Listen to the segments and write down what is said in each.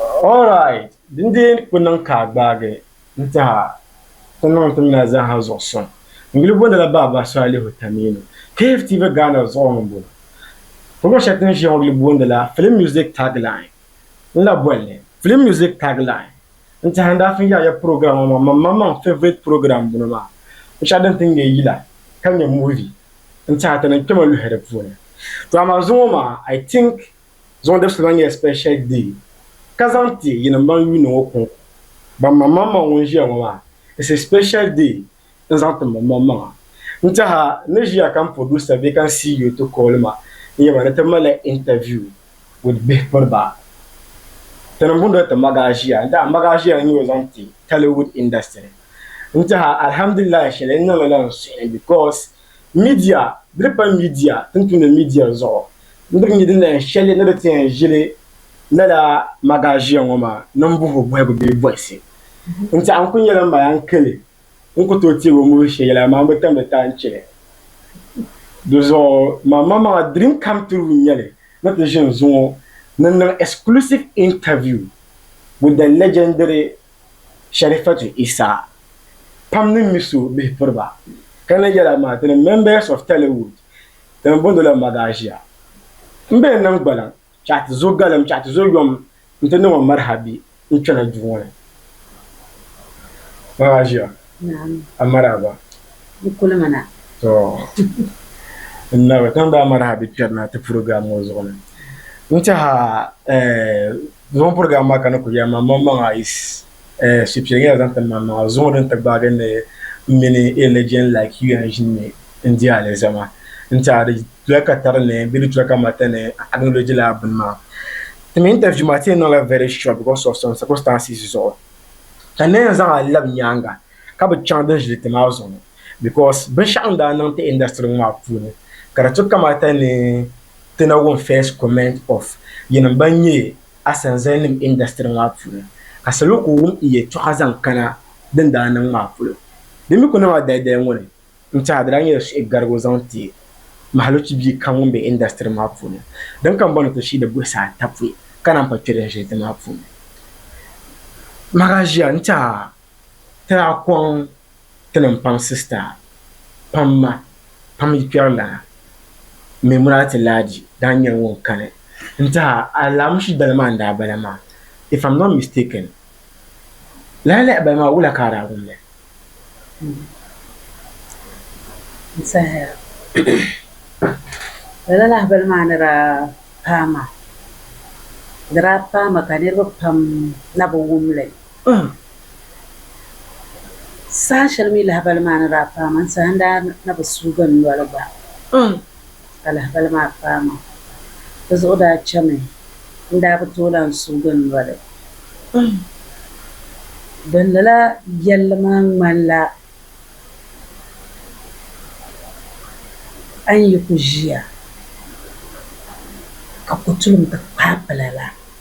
Alright, din dee ni ku niŋ ka a gbaagi n-tiha ti niŋ ti mali zaaha zuɣu sɔŋ n-yuli bondila Baaba Salihu Taminu, KFTV Ghana zuɣu ŋɔ m-bɔŋɔ. Program shɛli ti ni ʒiya ŋɔ yuli bondila Film Music Tagline. N lahi boli li Film Music Tagline n-tihi n daa fin yaai ya program ŋɔ maa man maŋmaŋ n favourite program m-bɔno maa. Binshɛɣu din ti ŋme yila ka nyɛ movie n-tihi ti ni kpɛma luhi di puuni. To amaa zuŋɔ maa I think. Zuŋɔ dibisi lahi nyɛla special day ka zaŋ ti yinim ban yuuni ŋɔ kuŋ ban maŋ maŋ maŋa ŋun ʒiya ŋɔ maa it's a special day n zaŋ ti maŋ maŋ maŋa n tɛha n ni ʒiya ka n producer bee ka n CEO ti call ma n yɛba ni ti malila interview with bihipiriba tini n boondila ti Magaa ʒiya n tɛha Magaa ʒiya n nyɛ o zaŋ ti Tollywood industry n tɛha alhamdulillahi shɛli n niŋli la n suhi because media di di pa media tin tumdi media zuɣu Ni di nya din lahi shɛli ni di ti yɛn ʒili lala magaaʒiya ŋɔ maa ni m-buhi o buhibu bee bɔhisi. N tɛha n-kul nyɛla Maya n-kil li, n ku tooi teeg o mulish shɛl yɛla amaa m bi tam di taai n-chɛ li. Di zuɣu maŋmaŋmaŋa dream come true n-nyɛ li ni ti ʒini zuŋɔ ni niŋ exclusive interview with the legendary Sharifatu Isa pam ni mi so bihi piri ba ka na yɛla maa to the members of Tollywood. Di ni booni la Magasia. M bee niŋ gbaliŋ chaɣ ti zo galim chaɣ ti zo yom nti niŋ o maraha bee n-kpɛna duu ŋɔ ni? Magasia, Naam. A maraaba? N kuli mi na. Tɔ! N naba, ti ni daa maraha bee kpɛrina ti purogiraam ŋɔ zuɣu ni. N tɛha, eh, zuɣu purogiraam maa ka ni kuli yɛli ma, maŋmaŋa is eh, shipia nyɛla zaŋ ti man maŋa zuŋɔ din ti gbaagi ni m mini a legend like you yan ʒini mi n di alizama n tiɛha di doli ka tari ni bee di doli ka mata ni acknowledge lala bini maa. Ti mi interview maa ti yi niŋla very short because of some circumstances zuɣu ka n nayan zaŋ a labi nyaaŋa ka bi chaŋ din ʒili ti maa zuɣu because binshɛɣu n daa niŋ ti industry ŋɔ maa puuni ka di ti kamata ni ti na wum first comment of yinim ban nyɛ asanzalinim indasitiri maa puuni, ka salo kuli wum n yɛltɔɣa zaŋ kana din daa niŋ maa polo. Bɛ mi ku niŋ a dayidaya ŋɔ ni n-tiɛhi a di daa nyɛla suhi garigu zaŋ ti Mahalochi bia kam ŋun be indasitiri maa puuni, din ka m bɔni ti shiidi buɣisi ata pɔi ka naan pa kpe din ʒili ti maa puuni. Maha ʒiya n-tiɛhi a ti daa kɔŋ tinim pam sister pam ma pam yikpɛrilana Memorati Laji daa nyɛla ŋun kani n ti a alamushi dali maa n daa bala maa if am not mistaken lahi lahi bala maa wula ka a daa wumli n sahaya lala lahi bali maa ni daa paai maa di daa paai ma ka niriba pam na bi wumli Pam. Saha shɛli mi lahibali maa ni daa paai ma n-saha n-daa na bi suugi n noli gba pam ka lahibali maa paai ma. Di zuɣu daa chami n-daa bi tooi lahi suugi n noli pam. Din lala yɛlli maa ŋmanila a ni yi ku ʒiya ka kotulim ti kpaai pila la.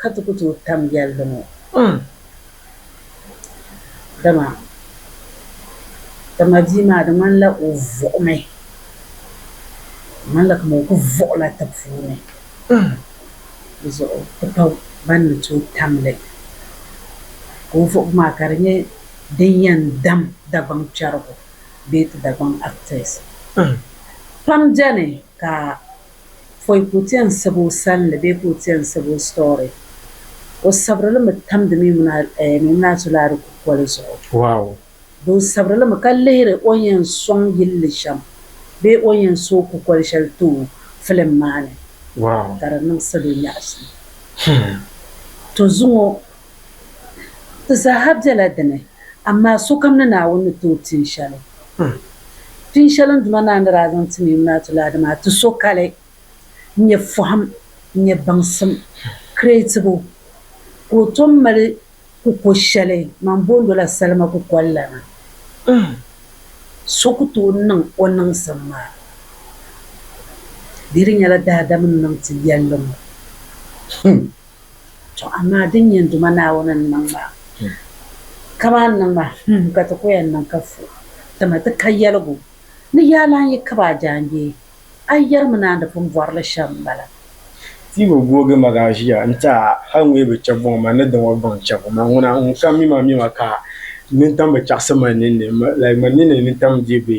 Ka ti ku tooi tam yɛlli ŋɔ m, dama dama bia maa di ŋmanila o vuɣimi, di ŋmanila kaman o ku vuɣila ti puuni m, di zuɣu ti pa ban ni tooi tam li ka o vuɣibu maa ka di nyɛ din yɛn dam Dagbaŋ kpɛrigu bee ti Dagbaŋ actors. Pam beni ka. pɔi ka o ti yɛn sabi o salinli bee ka o ti yɛn sabi o story. O sabiri li mi tamdi Memunah Zulaari kukoli zuɣu. Di o sabiri li mi ka lihiri o ni yɛn sɔŋ yilli shɛm bee o ni yɛn sooi kukoli shɛli ti o filim maa ni ka di niŋ salo nyaɣisim. To zuŋɔ Di zaaha bela di ni, amaa sokam ni Naawuni ni ti o pini shɛli. Pini shɛli n Duuma Naa ni daa zaŋ ti Mɛɛmunaatu Laadi maa, ti sokali n-nyɛ fɔhim, n-nyɛ baŋsim, kiretibu, ka o tom mali kuko shɛli man boondo la salima kukoli la na. So ku tooi niŋ o niŋsim maa bee di nyɛla daadam n-niŋ ti yɛlli ŋɔ. To amaa din nyɛ n Duuma Naawuni ni niŋ maa, kaman n niŋ maa, hum ka ti ko ya n-niŋ ka fu, dama ti ka yɛligu ni yaa lan yi kab a jaangbee, a yɛrimi ni a ni pun bɔri li shɛm m-bala. Ti bi googi ma ka a ʒiya nti a, hal ŋun yi bi chɛ bɔŋ ma ni di ŋɔ bɔŋ chɛbu ma, ŋuna ŋun ka mi ma mi ma ka nintam bi chaɣisi ma ninni, like ma ninni nintam dii bi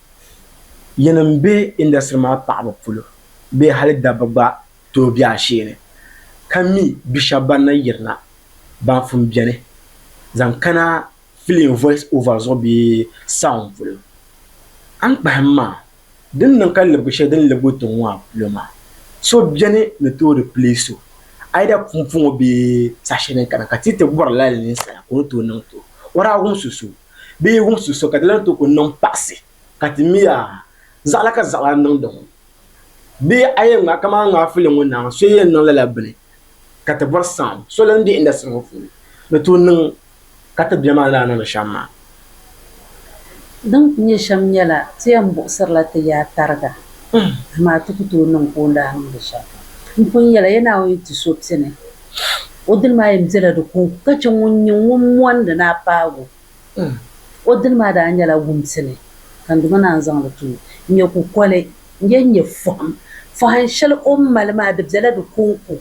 Yinim n be industry maa paɣaba polo bee hali dabba gba tooi be asheeni ka mi bi shɛba ban na yirina ban fum beni zaŋ kana film voice over zuɣu bee sound polo. A ni kpahim maa, din niŋ ka libigi shɛli din libigi tiŋ ŋɔ a polo maa, so beni ni tooi replace o either pumpɔŋɔ bee saha shɛli din kana ka ti yi ti bɔri lala ninsala ka o ni tooi niŋ ti o, o daa wumsi so. bee wumsi so ka di lan ti ku niŋ paɣisi, ka ti mi a, zaɣila ka zaɣila niŋdi ŋɔ? Bee a yɛn ŋma kaman ŋaafuli ŋun naai so yɛn niŋ lala bini, ka ti bɔri saɣim so lan be indasitiri ŋɔ puuni ni tooi niŋ ka ti bia maa ni daa niŋdi shɛm maa? Din ku nyɛ shɛm nyɛla, ti yɛn buɣisirila ti yaa tariga, amaa ti ku tooi niŋ ka o ni daa niŋdi shɛm. M pun yɛl a, Yɛ Naawuni yi ti so pini, O dini maa yɛn bela di ko ka chɛ ŋun nyɛ ŋun mondi ni a paagu o dini maa daa nyɛla wumsi ni ka Duuma Naa n-zaŋ li ti o n-nyɛ kukoli n-yɛn nyɛ fɔhim. Fɔhim shɛli o ni mali maa di bela di kɔŋko.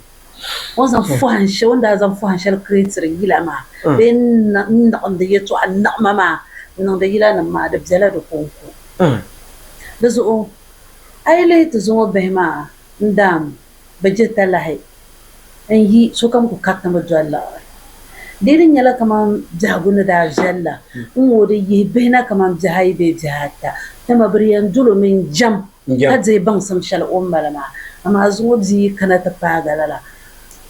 O ni zaŋ fɔhim shɛli, o ni daa zaŋ fɔhim shɛli kireetiri yila maa bee n-niɣindi yɛtɔɣa niɣima maa n-niŋdi yilanima maa di bela di kɔŋko. Di zuɣu a yi lihi ti zuŋɔ bihi maa n-daam. bɛ diri talahi n-yi sokam ku kari ni bɛ doli liɣiri. Di ni nyɛla kaman biɛhigu ni daa viɛli la, n-ŋooi di yihi bihi na kaman biɛhi ayi bee biɛhi ata, dama bɛ di yɛn dol o mini jɛm ka dihi baŋsim shɛli o ni mali maa. Amaa zuŋɔ bia yi kana ti paagi a lala,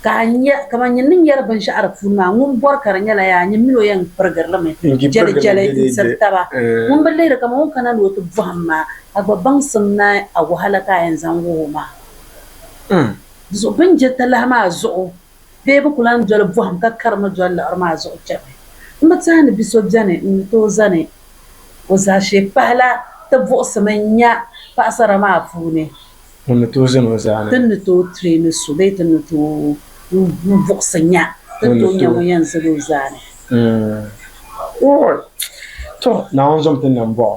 ka a nya kaman nyin ni nyari binshɛɣu di puuni maa, ŋun bɔri ka di nyɛla yaa nyin mini o yɛn pirigiri li mi jɛlijɛli n-tiri taba. Ŋun bi lihiri kaman o ni kana ni o ti bɔhim maa, a gba baŋsim naai a wahala ka a yɛn zaŋ wuhi o maa. Zuɣu bɛ ni je talahi maa zuɣu bee bɛ ku lan doli bɔhim ka karimi doli liɣiri maa zuɣu chani. M bi teei ni bi so beni n-ni tooi zani o zaashee pahi la ti buɣisimi nya paɣisara maa puuni. Ŋun ni tooi zani o zaa ni. Ti ni tooi treeni so bee ti ni tooi buɣisi nya ti ni tooi nya ŋun yɛn zani o zaa ni. Ooy! Tɔ! Naawuni zom ti nam bɔɣu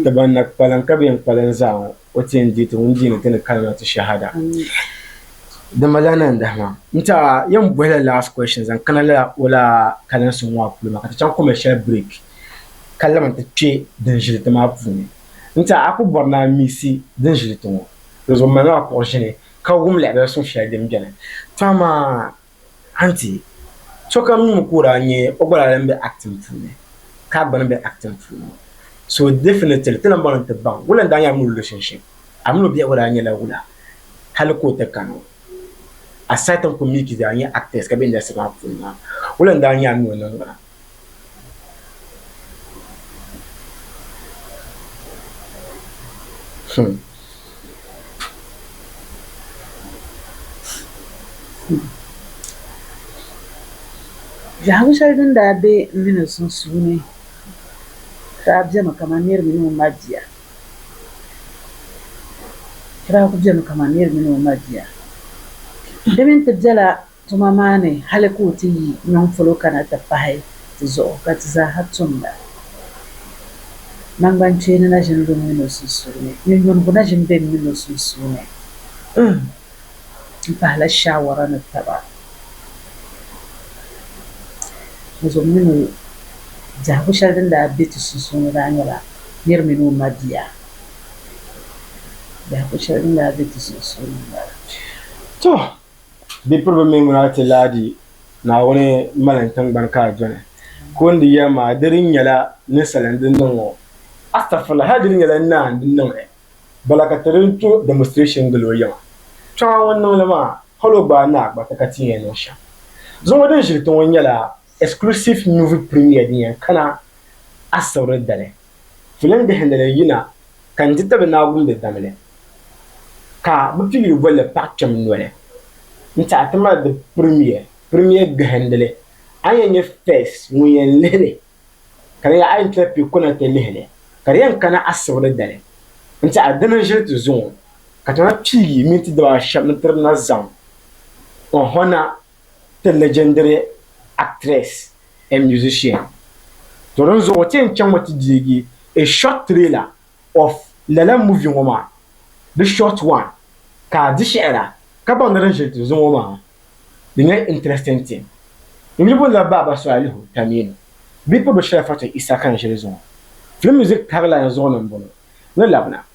ti ban na kpalim ka bɛ yɛn kpalim zaa ŋɔ. o ti yɛn deeti ŋun deeni ti ni kalimatu shahada di malila nandahima n ta yɛn bɔhi la last question zaŋ kana la o la kalinsi ŋɔ a puli ma ka ti chaŋ commercial break ka laman ti kpe din ʒili ti maa puuni n ta a ku bɔri ni a miisi din ʒili ti ŋɔ di zuɣu malila a kuɣu ʒini ka wum lahabali suŋ shɛli din beni to amaa Anti, sokam nuu ka o daa nyɛ o gba daa lan be acting puuni ka a gba ni be acting puuni so definitely ti lan bɔŋ ni ti baŋ wula n daa nyɛ a mini o relationship. A mini o biɛhigu daa nyɛla wula hali ka o ti kani o aside n kuli mi ka daa nyɛ actors ka be industry maa puuni maa wula n daa nyɛ a ni o niŋgbuna? Biɛhigu shɛli din daa be m mi ni sunsuuni daa bemi kaman niri mini o mabia di daa ku bemi kaman niri mini o mabia di mi n-ti bela Tuma maa ni hali ka o ti yi nyɔŋ polo kana ti pahi ti zuɣu ka ti zaaha tum la, naŋgbankpeeni na ʒini bem mini o sunsuuni? Nyunyunigu na ʒini bem mini o sunsuuni? Uhmm! M pahila shaawara ni taba ni zuɣu mini o biɛhigu shɛli din daa be ti sunsuuni daa nyɛla nir mini o mabia biɛhigu shɛli din daa be ti sunsuuni m-bala. Tɔ! Bipiriba mi ŋuna a ti laadi Naawuni malin tingbani ka a dɔni. Ka o ni di yɛli maa, di di nyɛla ninsala n-di niŋ ŋɔ. Astagfirullah, hali di ni nyɛla naa n-di niŋ ɛ. Bala ka ti di to demonstration gili o yiŋa. Kpiɔŋa ŋun niŋ li maa, hali o gbaai naa gbariti ka ti yɛn niŋ shɛm. Zuŋɔ din ʒiri ti ŋɔ nyɛla exclusive movie premiere din yɛn kana Asibri dali. Filim bihi ni li yina ka n ti tabi naawumbe damli ka bɛ pili yi boli li paɣ kpɛm noli n-tiɛhi ti mali di pirimiya pirimiya gahindili. A ni yɛn nyɛ Fez ŋun yɛn lihi li ka di yɛli a yɛn ti lahi kpi kuna ti lihi li ka di yɛn kana asibili dali n-tiɛhi di ni ʒili ti zuŋɔ ka ti lahi pii yi mini ti daba shɛba ni tiri na zaŋ ɔhɔna. the legendary actress and musician. To din zuɣu ti yɛn chaŋ mi ti deegi a short trailer of lala movie ŋɔ maa, the short one ka a di shɛhira ka baŋ ni din ʒiri ti zuŋɔ maa di nyɛ interesting thing. N yi bo lala Baaba Sɔalihu Taminu bɛ Pɔdɔshɛli Fatou Issa ka n ʒiri zuŋɔ, film music tag line zuɣu ni m-bɔŋɔ, ni labina.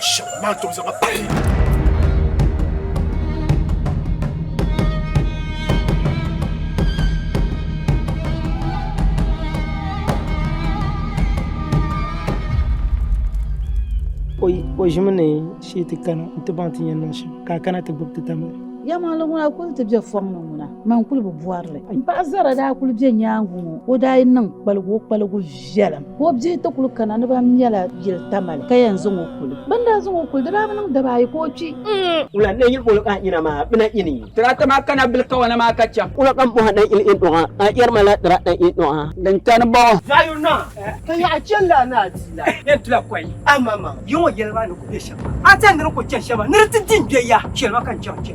Shɛba maa tom zama pahi. o ʒimi ni shee ti kana n ti baŋ ti yɛn niŋ shɛm ka a kana ti gbubi ti tamli yɛmaŋli ŋuna kuli ti bɛ fɔŋ ni ŋuna man kuli bi bɔrili paɣa zara daa kuli bɛ nyaangi ŋɔ o daa niŋ kpaligu o kpaligu viɛlim ka o bihi ti kuli kana ni ban mɛla yili tamali ka yɛn zaŋ o kuli bɛ ni daa zaŋ o kuli di daa bi niŋ daba ayi ka o kpi Wula n-lee yiri boli a nyina maa bina ini? Tirata maa kana bili kawana maa ka chaŋ. Wula ka m bɔhi a ni yili in dɔɣi a? Yɛri ma lala tirata in dɔɣi a. Din kani bɔŋɔ. Daa yuri na, ka yaɣi chani lala ni a di la. Yɛn tila kɔyi amaŋmaŋ, yiŋɔ yɛliba ni ku be shɛm maa. A ti yɛn ni di ku chani shɛm maa, ni di ti di n-gbe ya, chɛli ma ka n chaŋ n-chɛ.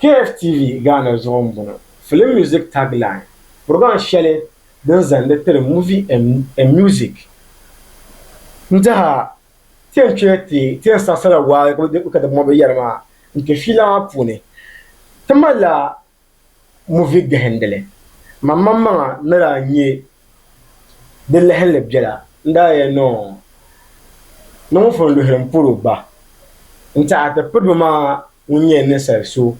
KFTV Ghana zuɣu m-bɔŋɔ. Film Music Tagline, Purɔgiraam shɛli din zandi tiri Movie and Music n-diha ti yɛn kpe ti yɛn saɣisirila waa ka di mɔbi yɛri maa n-kpe fiila maa puuni. Ti malila muvi gahindili. Mammaŋmaŋa ni daa nya di lahinli biɛla n-daa yɛli ni o ni ŋun fɔn luhili m-puri o ba n-ti a ti piriba maa ŋun nyɛ ninsal so.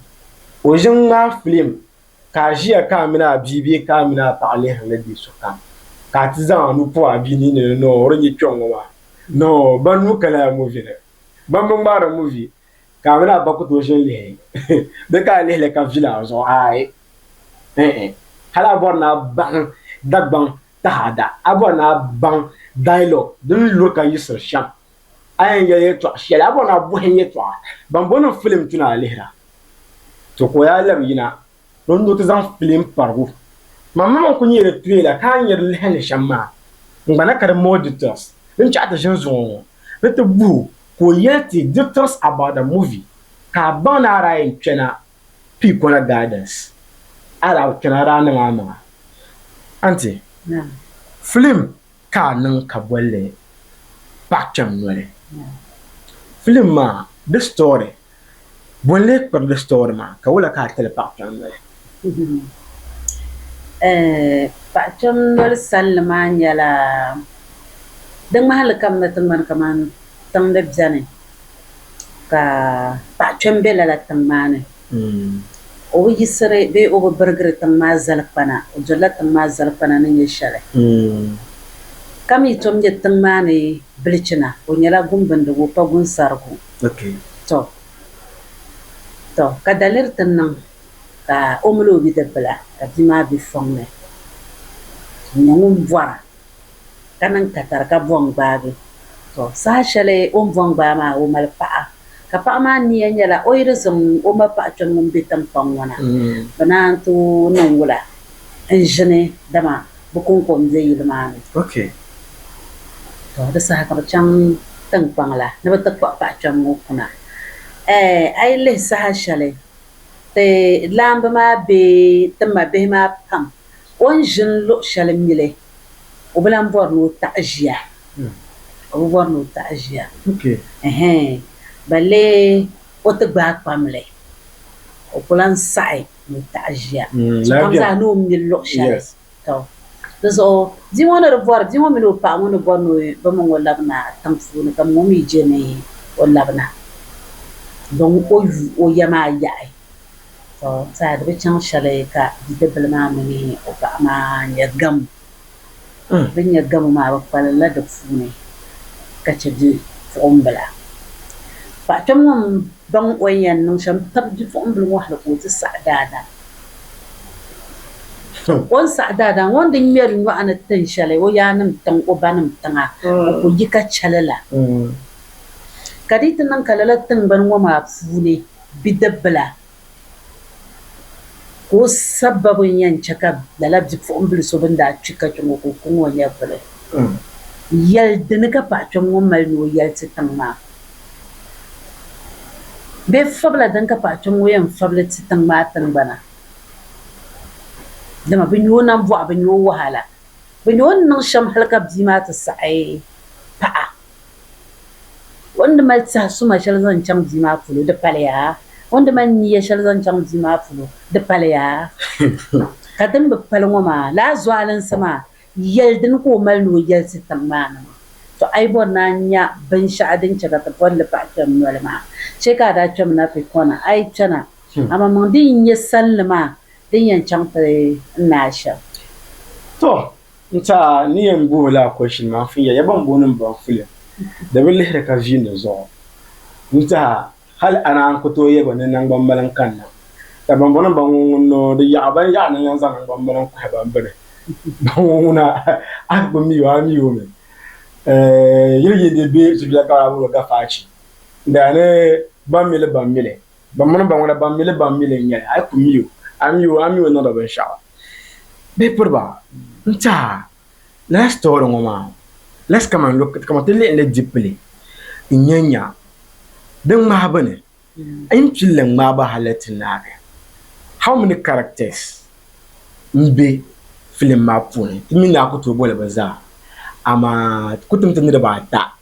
O ʒi n-ŋmaai filim ka a ʒiya ka a mini a bia bee ka a mini a paɣa lihiri li bee sokam ka a ti zaŋ a nuu pɔb a bia nin ni ni o di nyɛ kpiɔŋ ŋɔ maa ni o ba nuu ka lala muvi ni. Bambi ŋmaari muvi. Ka a mini a ba ku tooi ʒini lihi di ka a lihi li ka vili a zuɣu aai? Ɛɛn. Hali a bɔri ni a baŋ Dagbaŋ taɣada, a bɔri ni a baŋ dialogue din luri ka yiɣisiri shɛm, a yɛn yɛli yɛltɔɣ shɛli, a bɔri ni a bɔhim yɛltɔɣa ban bɔni n filim ti ni a lihira. To ka o yaa labi yina Bɛ ni ti zaŋ filim parigu man mama n-kul nyɛ di trailer ka a nya di lahi ni shɛm maa n-gbana ka di more details din chaɣi ti ʒin zuŋɔ ŋɔ ni ti buh o ka o yɛli ti details about the movie ka a baŋ ni a daa yɛn kpɛna pii kɔna gardens a daa bi kpɛna a daa niŋ a maŋa Auntie filim ka a niŋ ka bolli paɣ kpɛm noli filim maa di story Bo n lee kpibigi sitɔɔri maa, ka wula ka a tili paɣ kpɛm noli? Paɣ kpɛm noli sanli maa nyɛla di ŋmahili ka m ni ti ŋmani kaman tiŋ ni beni ka paɣ kpɛm be lala tiŋ maa ni. O bi yiɣisiri bee o bi birigiri tiŋ maa zalikpana, o dolila tiŋ maa zalikpana ni nyɛ shɛli. Ka mi tom nyɛ tiŋ maa ni bilichina, o nyɛla gumbindigu, o pa gunsarigu. Tɔ! Tɔ! Ka daliri ti niŋ ka o mini o bidibila ka bia maa be fɔŋ ni n-nyɛ ŋun bɔra ka niŋ katari ka bɔŋ gbaagi. Tɔ! Saha shɛli o ni bɔŋ gbaai maa o mali paɣa ka paɣa maa nia nyɛla o yi di zaŋ o ma paɣa kpɛm ŋun be tiŋkpaŋ ŋɔ na bɛ naan tooi niŋ wula n-ʒini dama bɛ kɔŋko m-be yili maa ni. Tɔ! Di saha ka bɛ chaŋ tiŋkpaŋ la ni bɛ ti kpuɣi paɣ kpɛm ŋɔ kuna. Ɛɛ, a yi lihi saha shɛli ti laamba maa be ti ma bihi maa pam, o ni ʒini luɣ shɛli mi li, o bi lan bɔri ni o taɣi ʒia. O bi bɔri ni o taɣi ʒia. Ɛɛhɛn! Balle o ti gbaai kpam li, o ku lan saɣi. ni taɣi ʒiya sokam zaa ni o mini luɣ shɛli. Tɔ! Di zuɣu bia ŋɔ ni di bɔri, bia ŋɔ mini o paɣa ŋɔ ni bɔri ni bɛ mini o labina tiŋ puuni, ka ŋɔ mi je ni o labina din o yu o ya maa yaɣi. Tɔ! Tɛha di bi chaŋ shɛli ka bidibbil maa mini o paɣa maa nya gam. Din nyɛ gabo maa bɛ kpalirila di puuni ka chɛ bipuɣimbila. Paɣ kpɛm ŋɔ m-baŋ o ni yɛn niŋ shɛm tab bipuɣimbila ŋɔ hal ka o ti saɣi daadam. O ni saɣi daadam ŋɔ n-di ŋmɛri nyɔɣu ni tin shɛli o yaannim tiŋ o banim tiŋa o ku yi ka chɛ li la. Ka di yi ti niŋ ka lala tiŋgbani ŋɔ maa puuni bidibbila Ka o sababu n-yɛn chɛ ka lala bipuɣimbila so bɛn daa kpi ka kpe ŋɔ ka o kuŋ o nyɛvuli. Yɛli dini ka paɣ kpɛm ŋɔ mali ni o yɛli ti tiŋ maa? Bee fabila dini ka paɣ kpɛm ŋɔ yɛn fabili ti tiŋ maa tiŋgbana? Dama bɛ nya o nambɔɣu, bɛ nya o wahala, bɛ nya o ni niŋ shɛm hal ka bia maa ti saɣi paɣa. O ni di mali tɛhi suma shɛli zaŋ chaŋ bia maa polo, di paliya. O ni di mali niya shɛli zaŋ chaŋ bia maa polo, di paliya. Ka din bi pali ŋɔ maa, lala zualinsi maa, yɛli dini ka o mali ni o yɛli ti tiŋ maa ni maa? Tɔ! A yi bɔri ni a nya binshɛɣu din chɛ ka ti bɔri li paɣ kpɛm noli maa, chɛ ka a daa kpɛmi na ti kɔna. A yi kpɛna, amaa mɔŋ din yi nyɛ salinli maa din yɛn chaŋ ti n ni a shɛm. Tɔ! N ta ni yɛn booi laa question maa fin ya ya ban booni m baŋ fulia di bi lihiri ka viini zuɣu n taha hali ana n ku tooi ya ba ni naŋgbambali n kanna ka ban booni m baŋ ŋun ŋun noo di yaɣi ban yaɣi na yɛn zaŋ naŋgbambali n kuhi ban bini baŋ ŋun ŋuna a bi mi o a mi o mi yili yi di be zuliya ka a bi bi gafa a chi daa ni ban mi li ban mi li Ban mini ba ŋuna, ban mi li, ban mi li n-nyɛ li, a yi ku mi o, a mi o, a mi o niŋdi o binshɛɣu. Bee piri ba, N-teha, lala sitɔri ŋɔ maa, let's come and look, kaman ti lihi li deeply n-nya nya di ŋmahibu ni, a yi ni pili li ŋmahibu ha let n naagi, how many characters m-be film maa puuni? Ti mi ni a ku tooi boli bɛ zaa, amaa ti ku timdi niriba ata.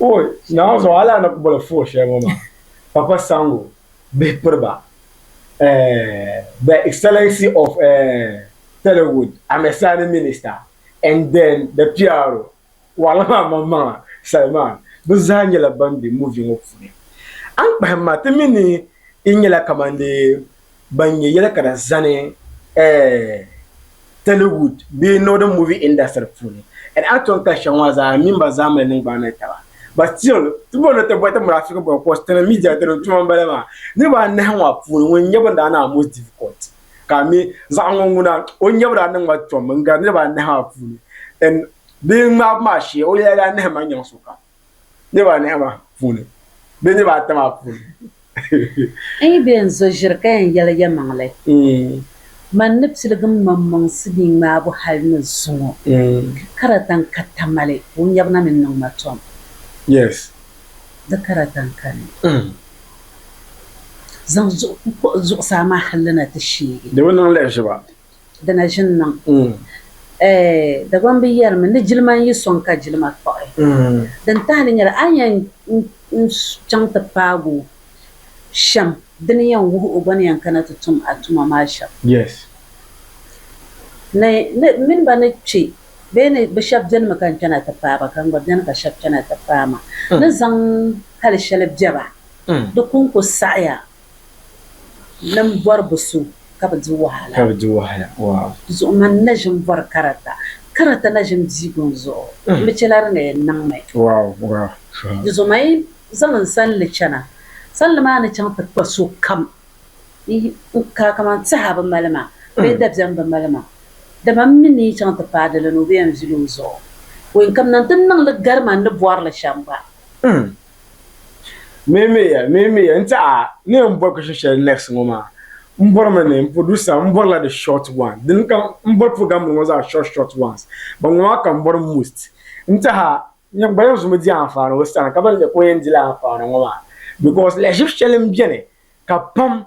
Oi, naawuni zuɣu hali a ni ku boli foo shɛli ŋɔ maa, Papa Sango bihi piri ba eh, The Excellency of eh, Telewood, Amesani Minister and then the PRO, waɣila maa maŋmaŋa, Salman, bɛ zaa nyɛla ban be movie ŋɔ puuni. A ni kpahim ma, ti mi ni yi nyɛla kamandee. ban nyɛ yɛli ka di zani Tollywood bee Northern Movie Industry puuni and actor ka shɛŋa maa zaa mini ba zaa mali niŋgbaŋ ni taba. But still, ti bɔri ni ti bɔri ti mali Africa bɔbu cos tana media dini tuma m-bala maa. Niriba anahi maa puuni ŋun nyɛbu n-daa niŋ a most difficult ka a mi zaɣa ŋɔ ŋuna o nyɛbu daa niŋ ma tom n-gari niriba anahi maa puuni and bee ŋmaabu maa shee o yɛla daa nahi ma nyaŋ sokam. Niriba anahi maa puuni bee niriba ata maa puuni. N yi be n zo ʒiri ka yɛn yɛli yɛlimaŋli, man ni piligim maŋmaŋsi ni ŋmaabu hal ni zuŋɔ, ka di tan ka tamali o nyɛbu na ni niŋ ma tom. Yes. Di ka di tan ka ni zaŋ zuɣusaa maa hal li na ti sheegi. Di bi niŋ lahiʒiba. Di na ʒini niŋ. Ɛɛ Dagbaŋ bi yɛrimi ni jilima n-yi sɔŋ ka jilima kpuɣi. Din tahili nyɛla, a ni yɛn chaŋ ti paag o shɛm, di ni yɛn wuhi o gba ni yɛn kana ti tum a tuma maa shɛm. Ni n mini ba ni kpe bee ni bɛ shɛb benimi ka n chana ti paai ba ka n gba beni ka shɛb chana ti paai ma, ni zaŋ hal shɛli bɛ ba di ku n-ku saɣiya Nim bɔri bi so ka bi di wahala. Zuɣu mani na ʒim bɔri karata. Karata na ʒim diigu n zuɣu. N bi chɛla di ni yɛn niŋ mi. Di zuɣu mani zaŋ n sanli chana. Sanli maa ni chaŋ ti kpa so kam n ka kaman tɛha bi mali ma bee dabiɛm bi mali ma. Dama m mi ni yi chaŋ ti paai di li ni o bi yɛn vili o zuɣu. Wɛnkam na n ti niŋ li gari ma n ni bɔri li shɛm gba. Meemeeya, meemeeya, n tiɛha ni yɛn bɔri question shɛli next ŋɔ maa n bɔri mi ni n producer n bɔrila the short one dini ka n bɔri program nim ŋɔ zaa short short ones ban ŋɔ maa ka n bɔri most n tiɛha n gba yɛn zumi di anfaani o sani ka ban nyɛ ka o yɛn dila anfaani ŋɔ maa because lahiʒib shɛli n beni ka pam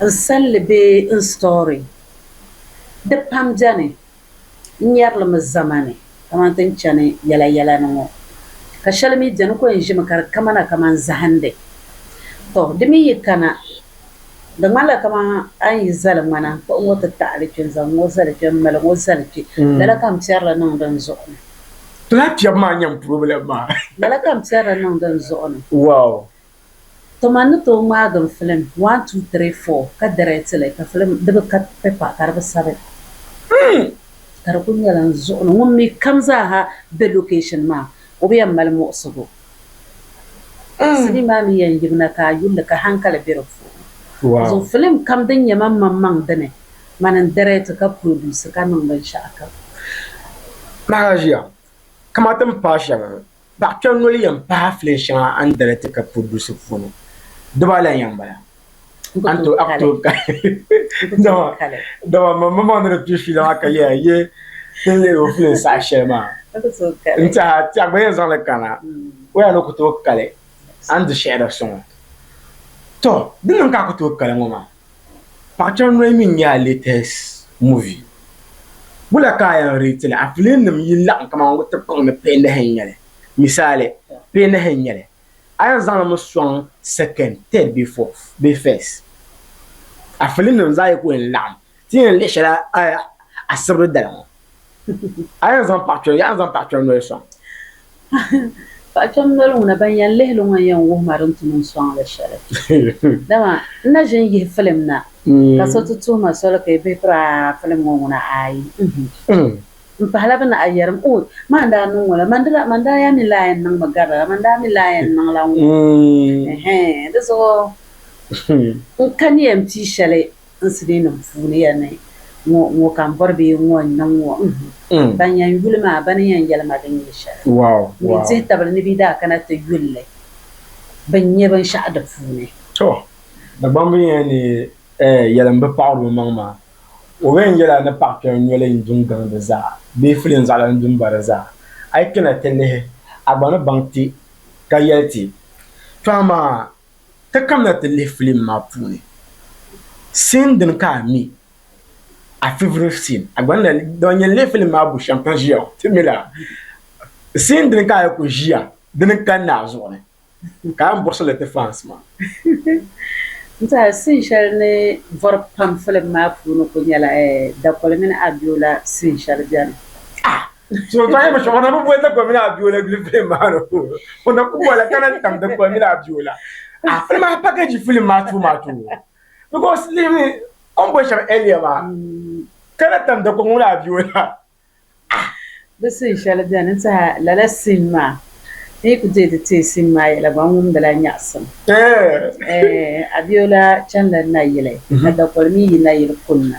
n salli bee n story di pam beni n nyɛrilimi zamani kamani ti ni chani yɛla yɛla ni ŋɔ ka shɛli mi beni ko n ʒimi ka di kamana kamani zahindi to di mi yi kana di ŋmanila kamani a ni yi zali ŋmana n kpuɣi ŋɔ ti taɣili kpe n zaŋ ŋɔ zali kpe m mali ŋɔ zali kpe lala ka m piɛrili niŋdi n zuɣu ni. Ti lahi piɛbu maa nyam problem maa. Lala ka m piɛrili niŋdi n zuɣu ni. Wow To man ni tooi ŋmaagi n filim one two three four ka direct li ka filim di bi ka paper ka di bi sabi hmm ka di kuli nyɛla n zuɣu ni ŋun mi kam zaaha be location maa o bi yɛn mali muɣisigu hmm sinii maa mi yɛn yibina ka a yulli ka hankali be di puuni zuɣu filim kam din nyɛ man man maŋ dini man n direct ka produce ka niŋ binshɛɣu kam. Nahi a ʒiya kamati m paai shɛŋa Paɣ kpɛri noli yɛn pahi filen shɛŋa a ni dali ti ka pudusi puuni. Di baa lan yɛn bala. A ni tooi kali. Dama man mi maŋ ni di kpi fiila maa ka yɛya yi ti lihiri o filen saha shɛli maa. N tiɛha ti a gba yɛn zaŋ li kana. O yaa ni ku tooi kali a ni di shɛhira sɔŋɔ. Tɔ! Di niŋ ka a ku tooi kali ŋɔ maa. Paɣ'chan noyi mi nyɛla latest movie wula ka a yɛn rate li a film nim yi laɣim kamani wuti kpaŋ ni peenahi n nyɛli misali peenahi n nyɛli a yɛn zaŋ li mi sɔŋ second third bee fourth bee first a film nim zaa yi ku yɛn laɣim ti yɛn lihi shɛli a sibiri dali ŋɔ. A yɛn zaŋ paɣikpɛm, yaɣi zaŋ paɣikpɛm noli sɔŋ. Paɣikpɛm noli ŋuna ban yɛn lihi li ŋɔ yɛn wuhi ma din tum n-sɔŋ li shɛli. Dama n na ʒi n-yihi filim na, ka so ti tuhi ma soli ka yi bihi piri a filim ŋɔ ŋuna ayi m-pahila bɛ naɣi yɛrim, Ooy! Maa n-daa niŋ ŋɔ la, man di la, man daa yaa mi lahi yɛn niŋmi gari la la, man daa mi lahi yɛn niŋ la ŋ-ŋɔ. Ɛhɛn! Di zuɣu n kani ya m-pii shɛli N silinim puuni ya ni ŋɔ ŋɔ ka m bɔri bee ŋɔ n niŋ ŋɔ uhu ban yɛn yuli maa bɛ ni yɛn yɛli ma din nyɛ shɛli mi dihi tabili ni bɛ daa kana ti yuli li bɛn nyɛ binshɛɣu di puuni. Tɔ! Dagbamba n yɛn ni yɛli m bi paɣiri o maŋ maa o bi yɛn yɛla ni paɣi kpɛm noli n du n gaŋ di zaa bee fili n zaɣila n du m ba di zaa a yi kpɛna ti lihi a gba ni baŋ ti ka yɛli ti tɔha maa Ti kamina ti lihi filim maa puuni scene din ka a mi a favorite scene a gba ni dama nyɛn lihi filim maa bu shɛm ka ʒiya o ti mila scene din ka a ku ʒiya dini kanna a zuɣu ni ka a yɛn buɣisi li ti fans maa. N tiɛha scene shɛli ni vɔri pam filim maa puuni ku nyɛla Dakoli mini Abiola scene shɛli bɛni. So tɔɣa yɛn mi shɛŋa na bi boli dikpuni mini abiola gbuli filim maa ni o na ku bɔla ka na tam dikpuni mini abiola a filim maa package filim maa too maa too because lihimi o ni boli shɛba earlier maa ka na tam dikpuni mini abiola bi sin shɛli beni n tihi lala sin maa n yi ku deei ti teei sin maa yɛla gba n wumdila nyaɣisim abiola chanila nayili ka dakoli mi yi nayili kunna.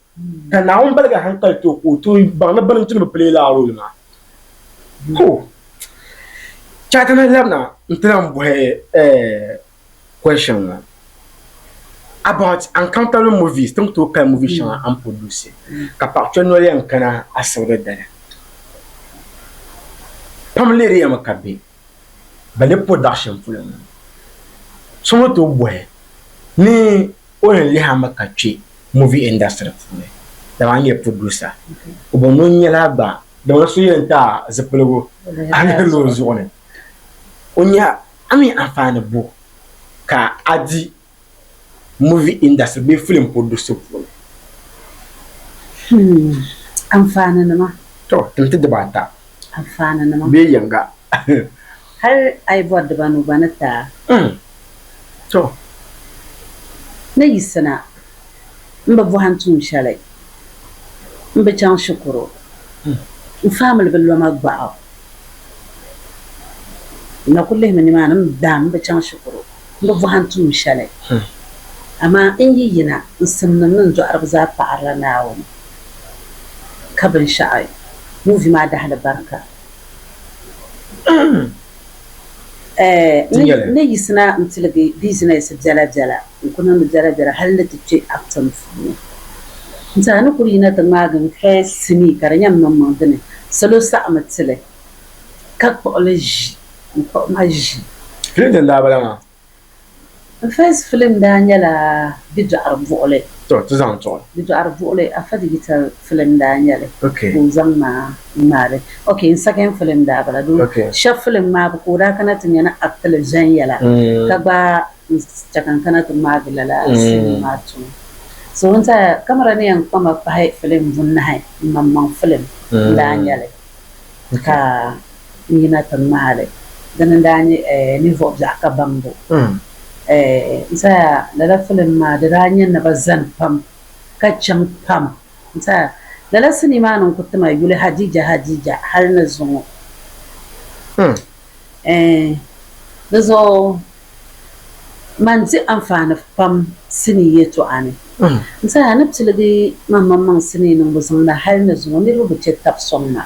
Ka Naawuni baliga hankali ti o ka o tooi baŋ ni baliŋ ti ni bi pili lala rooli maa. Ho! Chɛ a ti lahi labina nti lahi bɔhi question ŋɔ about uncountable movies ti ni tooi kali movie shɛŋa a ni produce ka paɣa kpɛm noli yɛn kana asibiti dali. Pam leeriyami ka be Bale production polo ŋɔ. So ni tooi bɔhi ni. O ni lihi a mi ka kpe movie industry puuni, dama n-nyɛ producer. O bo ni o nyɛla gba, dama di so yɛn ti a zipiligu a ni lihiri o zuɣu ni, o nya a mi anfaani bo ka a di movie industry bee film producer puuni? Hmm, anfaaninima. Tɔ, tim ti dibaa ata. Anfaaninima. Bee yiŋga. Hal a yi bɔri diba nu gba ni taa. Ɛɛh! Tɔ! Ni yiɣisina m bi bɔhim tuun shɛli, m bi chaŋ shikuru, m famili bi lo ma gbaɣu. M na kul lihimi nimaani m daam m bi chaŋ shikuru, m bi bɔhim tuun shɛli. Amaa n yi yina, n simdi mini n dɔɣiriba zaa paɣirila Naawuni, ka binshɛɣu ŋun vi ma a dahili barika. Ni yiɣisina n-tiligi bizinɛsi biɛlabiɛla n-ku niŋdi biɛlabiɛla hali ni ti kpe Upton puuni. N-tiɛha ni kuli yina ti ŋmaagi n-hɛɛ sinii ka di nyɛ m-maŋmaŋ dini salo saɣimi ti li ka kpuɣi li ʒi. N-kpuɣi ma ʒi. Clinton daa bala maa. First film daa nyɛla bidɔɣiri buɣili. Tɔ, ti zaŋ tuɣi. Bidɔɣiri buɣili afa digital film daa nyɛ li ka o zaŋ ma ŋmaari. Ok, n second film daa bala doo shɛb film maa bi ka o daa kana ti nya ni act li viɛnyɛla ka gba n chɛ ka n kana ti ŋmaagi lala scene maa tuun. So n tɛha camera ni yɛn kpa ma pahi film bunahi m maŋmaŋ film n daa nyɛ li. ka n yina ti ŋmaai li. Dina n-daa nyɛ ninvuɣ biɛɣu ka baŋbu. N saya lala filim maa di daa nya naba zani pam ka chaŋ pam. N saya lala sinii maa ni n ku ti ma yuli Hadija Hadija hal ni zuŋɔ. Ɛɛn, di zuɣu man di anfaani pam sinii yɛltɔɣa ni. N saha ni piligi maŋmaŋmaŋ sinii niŋbu zaŋda hali ni zuŋɔ niriba bi chɛ tab sɔŋ ma,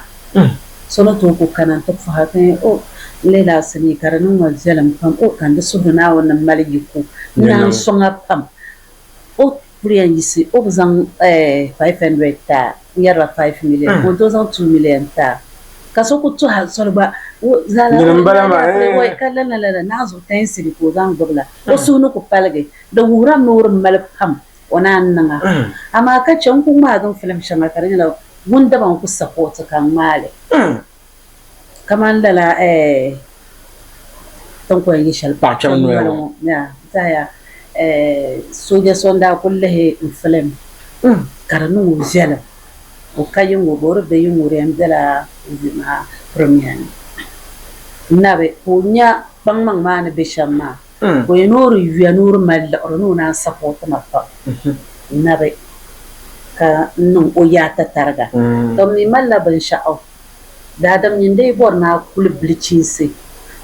so ni tooi ku kana nti pɔhi ka yɛn, O, n leei la a sinii ka di niŋ ma viɛlim pam. O, ka n di suhuri Naawuni ni m mali yi ku, n naan sɔŋ a pam. O. kuriya n-yiɣisi o bi zaŋ five hundred ti a, n yɛrila five million ka o tooi zaŋ two million ti a, ka so ku tuhi a soli gba, o zaala o ni daa nya a pia ka lana lana ni a zuɣu ten cedi ka o zaŋ gbibi la, o suhu ni ku paligi. Di wuhiri a mi o di mali pam o ni a ni niŋ a. Amaa ka chɛ n ku ŋmaagi n filim shɛŋa ka di nyɛla wun daba n ku sapoti ka n ŋmaai li. kamani lala tinkɔya yi shɛli paɣ kpɛm noli ŋɔ zaya sooja so n-daa kul lihi n-filim ka di niŋ o viɛlim o ka yiŋga o boori bɛ yiŋga o di yɛn bela movie maa premiere ni n-nabi ka o nya kpaŋmaŋ maa ni be shɛm maa. Ka o yɛn noori yuya ni o di mali liɣiri ni o naan sapoti ma pam nabi ka n niŋ o yaata tariga. Ka m mi malila binshɛɣu daadam nyin dii bɔri ni a kuli bilichinsi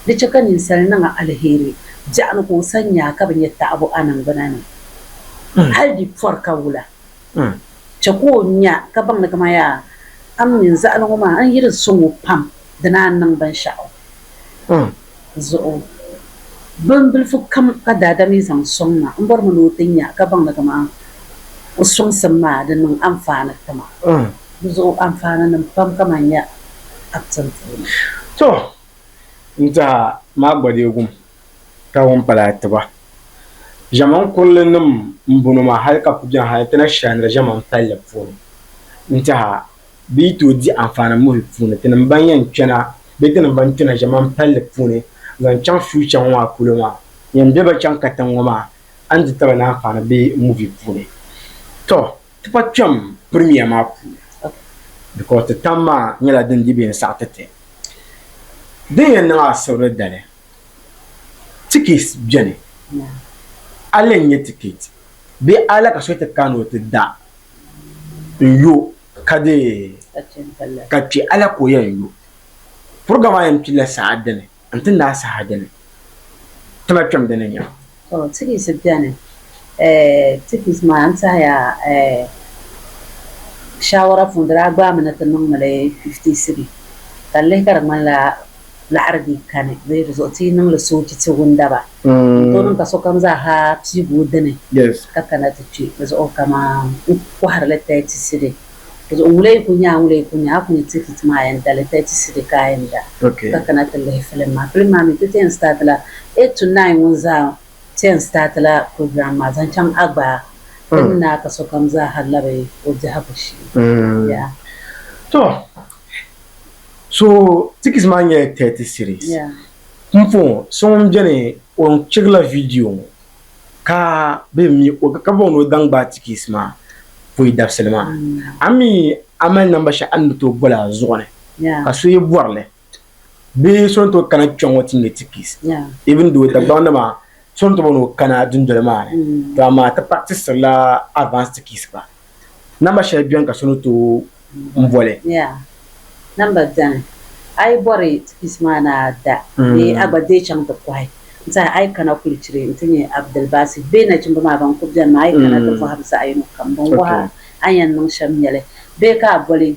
di chɛ ka ninsal niŋ a aliheri biɛɣuni ka o sani nyaa ka bi nya taɣibu a niŋgbuna ni hal di pɔri ka wula. Chɛ ka o nya ka baŋ ni kaman yaa a m mini zaɣili ŋɔ maa n yi di sɔŋ o pam dina a ni niŋ binshɛɣu. zuɣu. Bin bilifu kam ka Daada mi zaŋ sɔŋ ma, m bɔrimi ni o ti nya ka baŋ ni kaman o sɔŋsim maa di niŋ anfaani ti ma. Di zuɣu anfaaninim pam kaman nya acting puuni. To! N daa maa gba dee gum ka ŋun pala atiba. Ʒɛman kurili nim m bɔno maa hali ka ku bɛni hali ti na shɛhindiri ʒɛman palli puuni n-tiha. Bɛ yi tooi di anfaani muhili puuni, tinim ban yɛn kpɛna bee tinim ban kpɛna ʒiɛmani palli puuni zaŋ chaŋ future ŋɔ maa polo maa yɛn be ba chaŋ katiŋ ŋɔ maa a ni di taba ni anfaani be movie puuni. Tɔ! Ti pa kpɛm premiere maa puuni because ti tam maa nyɛla din di bɛ ni saɣi ti ti. Din yɛn niŋ asirili dali, tickets beni, a lee nyɛ ticket bee a la ka so ti ka ni o ti da n yo ka di ka kpɛ ala ka o yɛn yo puriga maa yɛn pilla saha dini n ti naai saha dini tima kpɛm dini nya. To tikis bɛni tikis maa n tɛhiya shawara puuni di daa gbaai mi ni ti niŋ mi li fifti sibi ka n lihi ka di ŋmanila laɣiri bee kani bee di zuɣu ti yi niŋ li soochi ti wundaba n-tooi niŋ ka sokam zaa ha piigi o dini ka kana ti kpe di zuɣu kaman n kɔhiri li tɛɛti sidi di zuɣu ŋula yi ku nya a ŋula yi ku nya a ku ni ti hit maa a yɛn dali tɛɛti sidi ka a yɛn da ka kana ti lihi filim maa filim maa mi ti ti yɛn sitaati la eight to nine ŋun zaa ti yɛn sitaati la program maa zaŋ chaŋ a gbaai din ni a ka sokam zaa ha labi o biɛhigu shee yaa. Tɔ! so tickets maa nyɛla 30 series pumpɔŋɔ so ŋun beni o chirila video ŋɔ ka bɛ mi o ka bɔŋ ni o daŋ gbaai tickets maa pɔi dabisili maa a mi a mali namba shɛli a ni bi tooi boli a zuɣu ni ka so yi bɔri li bee so ni tooi kana kpɛŋɔ ti ŋmɛ tickets even though Dagbaŋ nima so ni tooi bɔni o kana dundoli maa ni to amaa ti practisirila advance tickets gba Namba shɛli beni ka so ni tooi n boli? Yaa, namba beni. A yi bɔri ti piisi maa ni a da bee a gba deei chaŋ ti kɔhi n saha a yi kana kulichiri nti nya Abdulbasit bee nachimba maa ban kuli beni maa a yi kana ti bɔhim zaɣiyino kam binwɔɣa a ni yɛn niŋ shɛm nyɛli bee ka a boli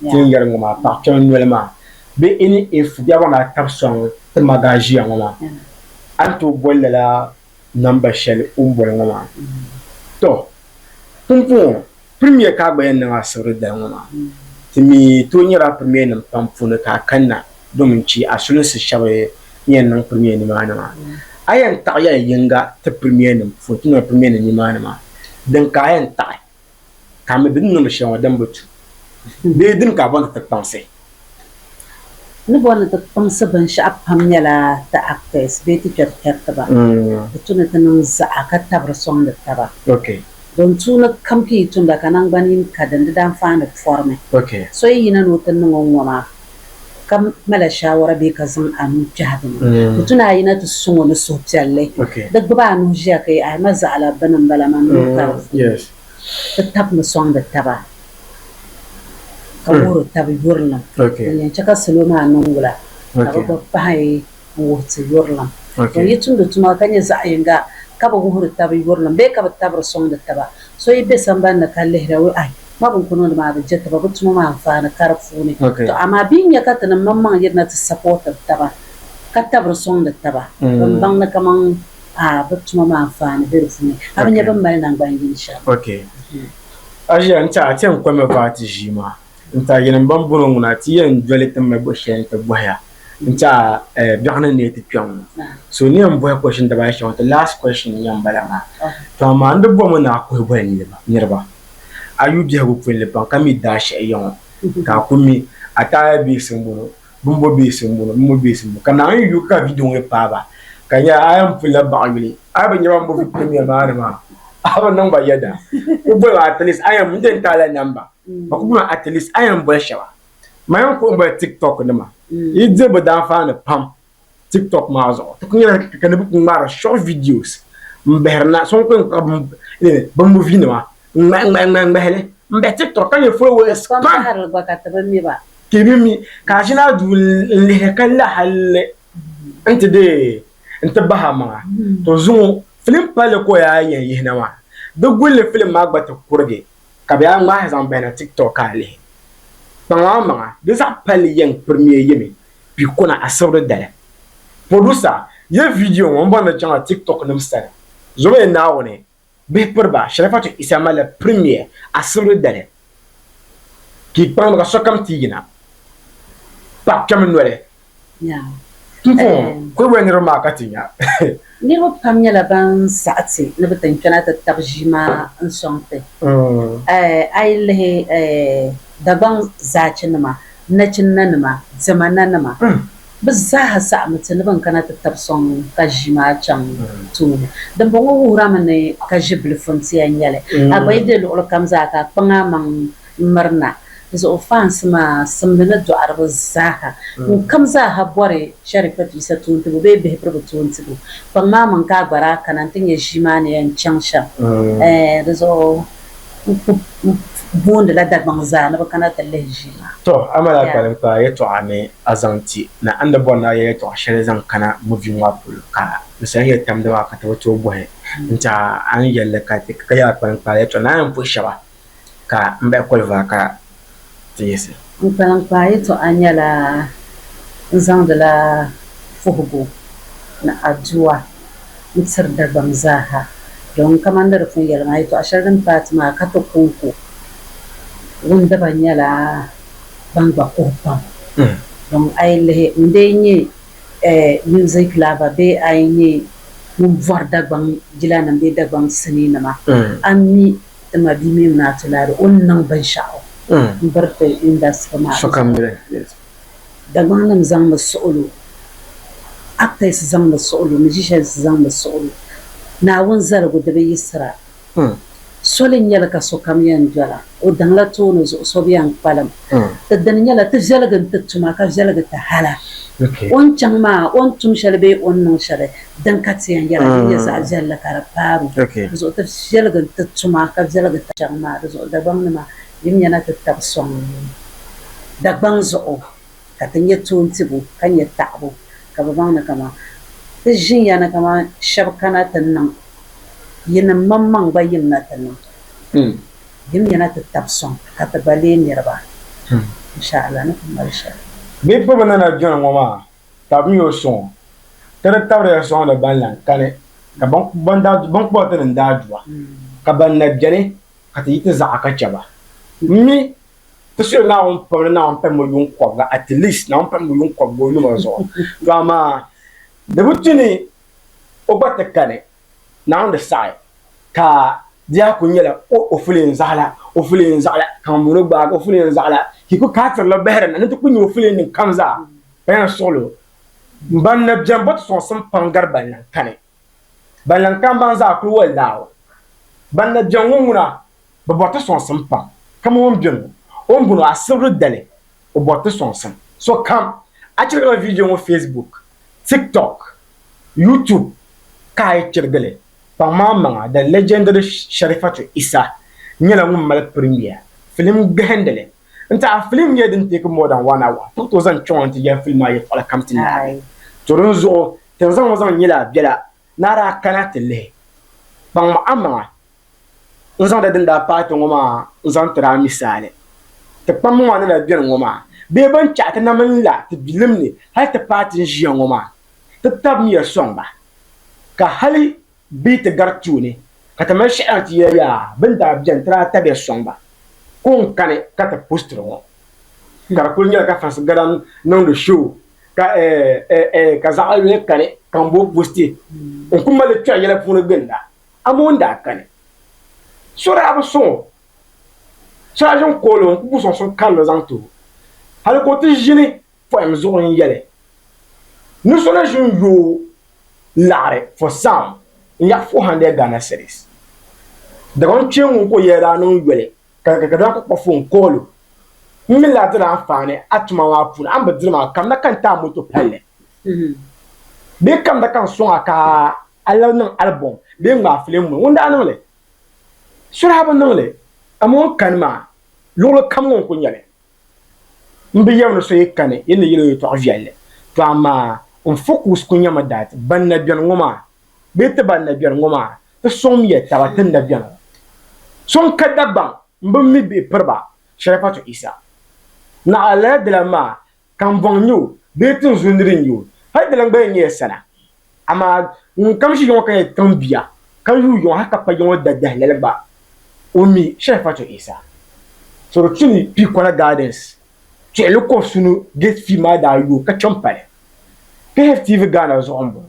Ti ni yɛri ŋɔ maa, paɣ kpɛma noli maa bee any if bɛhigu a ni a tab sɔŋ ti ma gaa ʒiya ŋɔ maa, a ni tooi boli lala namba shɛli o ni boli ŋɔ maa. Tɔ! Pumpɔŋɔ Premier ka a gba yɛn niŋ asibiri dali ŋɔ maa. Ti mi tooi nyɛla Premier nim pam puuni ka a kanna domin chɛ a sulinsi shɛba ni yɛn niŋ Premier nimaani maa. A yɛn taɣi ya yiŋga ti Premier nim puuni, ti niŋla Premier nim nimaani maa. Din ka a yɛn taɣi? ka mi bɛ ni niŋdi shɛŋa din bi tu bee din ka bɔ ni ti kpaŋsi. Ni bɔ ni ti kpaŋsi binshɛɣu pam nyɛla ti actors bee ti kpɛri kpɛritiba di tu ni ti niŋ zaɣa ka tabiri sɔŋdi taba. Don tuu ni kam ka yi tumda ka naŋgban yini ka din di daa faani pɔrimi. So yi yina ni o ti niŋ o ŋɔ maa. ka mala shaawara bee ka zaŋ a nuu kpɛhi bini, di tu ni a yina ti suŋ o ni suhupiɛlli, di gbibi a nuhi ʒiya ka yɛli, A ma zaɣ la bini m-bala maa, nuu ka di vuui. Bɛ tabimi sɔŋdi taba, ka wuhiri tabi yurilim din yɛn chɛ ka salo maa niŋ wula, ka bɛ gba pahi. n-wuhi ti yurilim. Bɛ yi tumdi tuma ka nyɛ zaɣ yiŋga ka bi wuhiri taba yurilim bee ka bi tabiri sɔŋdi taba, so yi be sambani ni ka lihira wuhi ai, ma bɛ ni ku niŋdi maa bi je taba, bɛ tuma maa anfaani ka di puuni. Tɔ amaa bɛ yi nya ka tinim mini maŋ yirina ti sapɔɔtiri taba ka tabiri sɔŋdi taba, bɛn baŋ ni kaman aa bɛ tuma maa anfaani be di puuni, a bi nya bɛ ni mali naŋgban yini shɛm. Asia n-ti a ti yɛn kɔmi baati ʒii maa. N ta yɛn m-baŋ bɔrɔ ŋuna nti yɛn doli ti mali bɔ shɛli nti bɔhi ya nti a biɛɣu ni neei ti kpɛŋ ŋɔ. So ni yɛn bɔhi question dibaayi shɛŋa ti last question n-nyɛ m-bala maa. To amaa n di bɔmi ni a kuhi boli niriba. A yu biɛhigu pun li pam ka mi daashɛhi ya ŋɔ ka a ku mi a taaya bees m-bɔno, bimbo bees m-bɔno, bimbo bees m-bɔno ka Naawuni yi yu ka video ŋɔ yi paai ba ka nya a yɛn pun lahi baɣi yuli a yi bi nya ba m-bo video maa ni maa a bi niŋ ba yɛda. Ku boli ba at least a yɛn mi n-ti yɛn ti a la namba. ba ku guna at least ayɛn boli shɛba ma yɛn kuɣi boli tiktok nima yi diri bi daanfaani pam tiktok maa zuɣu ti ku nyɛla ka ni bi ku ŋmaari short videos n bahiri na so n ku kpuɣi bi movie nima n ŋmahi ŋmahi ŋmahi ŋmahili n bahi tiktok ka nyɛ followers pam ti bi mi ka ʒina duu n lihiri ka la halli n ti deei n ti bahi a maŋa to zuŋɔ film palli ka o yaa yɛn yihina maa di gulli film maa gba ti kurigi ka bɛ a ŋmahi zaŋ bahi na tik tok ka a lihi kpaŋ maa maŋa di zaɣ palli yɛŋ pirimiya yɛmi kpi kona asibiri dali producer yɛ video ŋɔ n bɔri ni chaŋla tik tok nim sani zɔmiya naawuni bihi piri ba sharifatu isa malila pirimiya asibiri dali kpi kpaŋ ni ka sokam ti yina paɣa kpɛmi noli Ti puɣim kuliboli niriba maa ka ti nya. Niriba pam nyɛla ban saɣi ti ni bɛ ti n-kpɛna ti tab ʒii maa n-sɔŋ ti. A yi lihi Dagbaŋ zaachinima, nachinnanima, diɛmananima, bɛ zaaha saɣimi ti ni bɛ ni kana ti tab sɔŋ ka ʒii maa chaŋ tooni. Dimbɔŋɔ wuhirimi ni ka ʒibilifuntia n-nyɛ li. A gba yi be luɣilikam zaa ka a kpaŋ a maŋ mirina zuɣu faans maa simdi ni dɔɣiriba zaaha ŋun kam zaaha bɔri Sharifat Yisa toontibu bee bihibirigu toontibu kpaŋ maa maŋ ka a gba daa kana nti nya ʒii maa ni yɛn chaŋ shɛm ɛɛh di zuɣu n ku boondila Dagbaŋ zaa ni bɛ kana ti lihi ʒii maa. Tɔ! A mali a kpalim kpaa yɛtɔɣa ni a zaŋ ti na. A ni daa bɔri ni a yɛl yɛtɔɣa shɛli zaŋ kana muvi ŋɔ polo ka n saha yɛli tamdi maa ka ti bi tooi bɔhi n ti a a ni yɛl li ka yɛl a kpalim kpaa yɛtɔɣa ni a yɛn puhi shɛba. ka n bahi koliva ka ti yiɣisi. N kpaliŋkpaa yɛtɔɣa nyɛla n zaŋdila puhigu ni adua n-tiri Dagbaŋ zaaha domin kamani ni di pun yɛli maa, yɛtɔɣa shɛli din paai ti maa ka ti kɔŋko wundiba nyɛla ban gba kuhi pam. Domin a yi lihi ŋun dee nyɛ music lover bee a yi nyɛ ŋun bɔri Dagbaŋ jilanim bee Dagbaŋ sinii nima, a ni mi ti ma bia mini naa ti lahi o ni niŋ binshɛɣu m-biri ti indasitiri maa zuɣu. Dagbaŋnima zaŋmi suɣulo, actors zaŋmi suɣulo, musicians zaŋmi suɣulo. Naawuni zaligu di bi yiɣisira. Soli n-nyɛ li ka sokam yɛn dola o daŋ la tooni zuɣu so bi yɛn kpalim. Ti dini nyɛla ti viɛligi n-ti tuma ka viɛligi ti hala. O ni chaŋ maa, o ni tum shɛli bee o ni niŋ shɛli Din ka ti yɛn yɛra din nyɛ zaɣ viɛlli ka di paag o, di zuɣu ti viɛligi nti tum a ka viɛligi ti chaŋ maa, di zuɣu Dagbaŋnima, yi nya na ti tab sɔŋ Dagbaŋ zuɣu ka ti nyɛ toontibu ka nyɛ taɣibu ka bɛ baŋ ni kaman ti ʒin ya ni kaman shɛb kana ti niŋ yinim mammaŋ gba yim na ti niŋ, yim nya na ti tab sɔŋ ka ti gba leei niriba, insha'Allah ni ti mali shɛli. Bɛ kpi bɛ ni na jɔni ŋɔ maa tabimiya o suŋɔ, ka di tabiriya sɔŋdi ban lan kani, ka ban kpuɣi ti ni n-daa du a, ka ban na beni ka ti yi ti zaɣa ka chɛ ba. M mi ti suhiri Naawuni pam ni Naawuni pahim o yuŋ kɔbiga, at least Naawuni pahim o yuŋ kɔbiga o yuma zuɣu, to amaa di bi tu ni o gba ti kani. Naawuni saɣi ka di yaa kuli nyɛla o o fuleen zaɣila, o fuleen zaɣila, ka ŋumbɔŋɔ gbaagi o fuleen zaɣila, ka yi kuli kaafiri la bahiri na ni ti kuli nya o fuleennim kam zaa, ka yan suɣil o. Mban na beni bɔ ti sɔŋsim pam gari banlaŋ kani. Banlaŋ kam ban zaa kuli wali Naawuni. Ban na beni ŋɔ ŋuna bɛ bɔri ti sɔŋsim pam, kaman o ni be ŋɔ. O ni bɔŋɔ, a sibiri dali, o bɔri ti sɔŋsim. Sokam, a chirigila viidiyo ŋɔ Facebook, TikTok, YouTube ka a yi chirigi li, kpaŋmaŋmaŋa the legendary Sharifatu Isah nyɛla ŋun mali premiere filim gbihindili n-ti a. Filim nyɛla din take more than one hour. Ti tooi zaŋ kpiɔŋ n-ti yɛli filim maa yɛltɔɣili kam ti naai. To dinzuɣu, ti ni zaŋ ŋɔ zaŋ nyɛla a biɛla ni a daa kana ti lihi. Kpaŋmaŋmaŋa N zaŋda din daa paai ti ŋɔ maa n-zaŋ tiri a misaali. Ti kpamba maa ni daa beni ŋɔ maa, bɛ ban chaɣi ti na mini la ti bilim ni hal ti paai ti ni ʒiya ŋɔ maa, ti tabimiya sɔŋ ba, ka hali bɛ yi ti gari tuuni ka ti mali shɛhiɣiŋ ti yɛli yaa bɛ ni daa beni ti daa tabiya sɔŋ ba. Ko n-kani ka ti postiri ŋɔ, ka di kul nyɛla ka Fransi Galan niŋdi show ka eh eh eh ka zaɣ yuli kani ka ŋun boo posti. N ku mali li kpɛri yɛla puuni ginda. Ammon daa kani. So daa bi sɔŋ o. So daa ʒini kooli o n-kpuɣi sɔŋ suŋ karili zaŋ ti o, hali ka o ti ʒini pɔhim zuɣu n-yɛli ni so na ʒini yooi laɣiri for some n-yak four hundred Ghana cedis. Dagbaŋ kpeeŋ ŋun ko yɛla daa niŋ yoli ka ka daa kuli kpa foon kooli o, M mi lahi diri anfaani a tuma maa puuni, a ni bi diri maa kamda ka n ti a moto palli bee kamda ka n sɔŋ a ka a labi niŋ album bee n ŋmaai filim ŋɔ, ŋun daa niŋ li? Sureha bi niŋ li, amaa o ni kani maa, luɣili kam ŋɔ n ku nya li. M bi yɛm ni so yi kani, yi ni yɛl o yɛtɔɣ viɛlli, tɔ amaa n focus ku nyɛmi dat ban na beni ŋɔ maa bee ti ban na beni ŋɔ maa, ti sɔŋmiya taba ti ni na beni ŋɔ. So n-ka Dagbaŋ m-bi mi bihi piri ba shɛli pa to Isa. Naɣila lala di lan maa, Kambɔŋ n-nyɛ o bee tinzuli ni di nyɛ o, hal di lan gba yɛn nyɛla sala. Amaa ŋun kam ʒi yɔŋɔ ka nyɛ tiŋ bia, ka yuui yɔŋɔ hal ka pa yɔŋɔ dadahi lala gba, o mi Sharifatu Isa. Sorotuni Piikola Gardens tuɣili kɔbisuni gate fee maa daa yooi ka kpe m-pali KFTV Ghana zuɣu m-bɔŋɔ.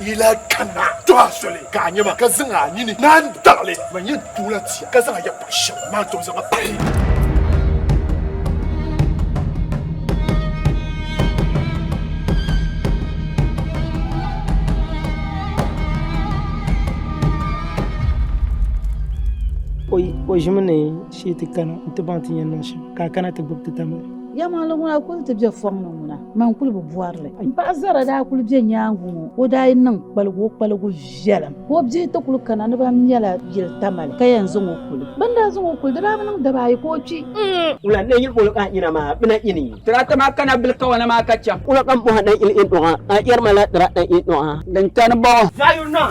Yi lahi kanna tɔh a soli ka a nya ma, ka zaŋ a nini na n-daɣi li, man yɛn duɣila ti ya, ka zaŋ a yakpɔɣu shɛm maa tom zaŋ ma pahi. O ʒimi ni Shee ti kana n-ti baŋ ti ni yɛn niŋ shɛm, ka a kana ti gbibi ti tamli. Yɛlimaŋli ŋuna kul ti be fɔŋ ni ŋuna, man kul bi bɔri li. M paɣ Zara daa kul be nyaaŋa ŋɔ, o daa yi niŋ kpaligu o kpaligu viɛlim, ka o bia ti kul kana ni bɛn mɛla yili tamali ka yɛn zaŋ o kuli. Bɛ ni daa zaŋ o kuli, di daa bi niŋ daba ayi ka o kpi. Wula n-lee yiri boli a nina maa bɛ na ini? Tirata maa kana bil kawana maa ka cham. Wula ka m bɔhi a na yili inɔŋa? A yɛri ma la tirata inɔŋa. Din kani bɔŋɔ. Zayun naa,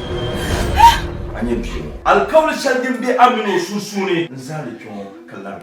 A nyɛ bia ŋɔ. Alikauli shɛli din be a mini o sunsuuni n-zaani kpe ŋɔ ka lari.